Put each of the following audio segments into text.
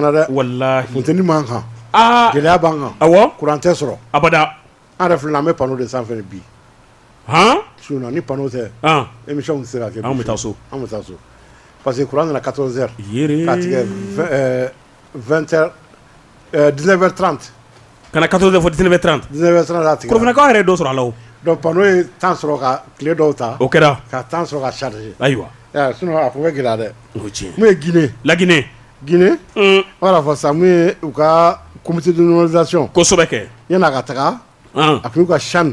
Wallahi funteni man kan gɛlɛya b'an kan awɔ kuran tɛ sɔrɔ abada an yɛrɛ filɛ an bɛ panneau de sanfɛ bi sinon ni panneau tɛ émission tɛ se ka kɛ an bɛ taa so an bɛ taa so parce que kuran nana 14 heures ka tigɛ 19 heures 30 Ka na 14 heures fɔ 19 heures 30 19 heures 30 a tigɛra Korofinakaw yɛrɛ ye dɔ sɔrɔ a la o donc panneau ye temps sɔrɔ ka tile dɔw ta o kɛra ka temps sɔrɔ ka charger ayiwa i y'a ye sinon a tun bɛ gɛlɛya dɛ o ye tiɲɛ ye mun ye Guinée La Guinée Guinée u b'a la fɔ sa mun ye u ka comité de normalisation kosɛbɛ kɛ yan'a ka taga ɔnhɔn a tun y'u ka CHAN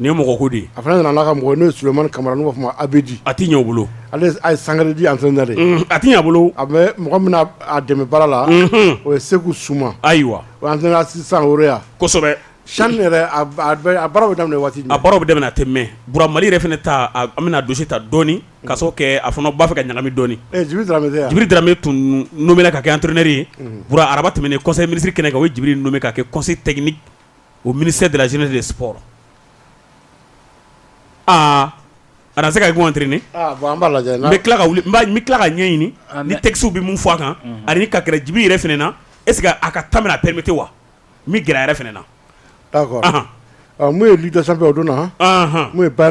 Nin ye mɔgɔ ko de ye a fana nana n'a ka mɔgɔ ye n'o ye Sulemani Kamara n'u b'a f'a ma Abedi a ti ɲɛ u bolo ale ye Sangarédi entraineur ye unhun a ti ɲɛ a bolo a bɛ mɔgɔ min n'a dɛmɛ baara la unhun o ye Seku Soumah ayiwa o ye entraineur assistant Horoya kosɛbɛ CHAN yɛrɛ a b a bɛ a baaraw be daminɛ waati jumɛn a baaraw be daminɛ a tɛ mɛn Bura Mali yɛrɛ fɛnɛ ta a b an bɛna dossier ta dɔɔnin ka sabu kɛ a fana b'a fɛ ka ɲagami dɔɔnin e Djibril Dramé tɛ a Djibril Dramé tun nommé la ka kɛ entraineur ye unhun Bura araba tɛmɛnen conseil ministre kɛnɛ kan u ye Djibril nommé ka kɛ conseil technique o mini se dala sen de sɔ aa a se ka gɔnt bɛ tila ka ka ɲɛɲini ni tɛsiw bɛ min fɔ a kan ani ka gɛrɛjibi yɛrɛ f na e sigi a ka ta a pɛmeti wa n bɛ g yɛrɛ f na n'o ye dida sanfɛ o don na n'o ye ba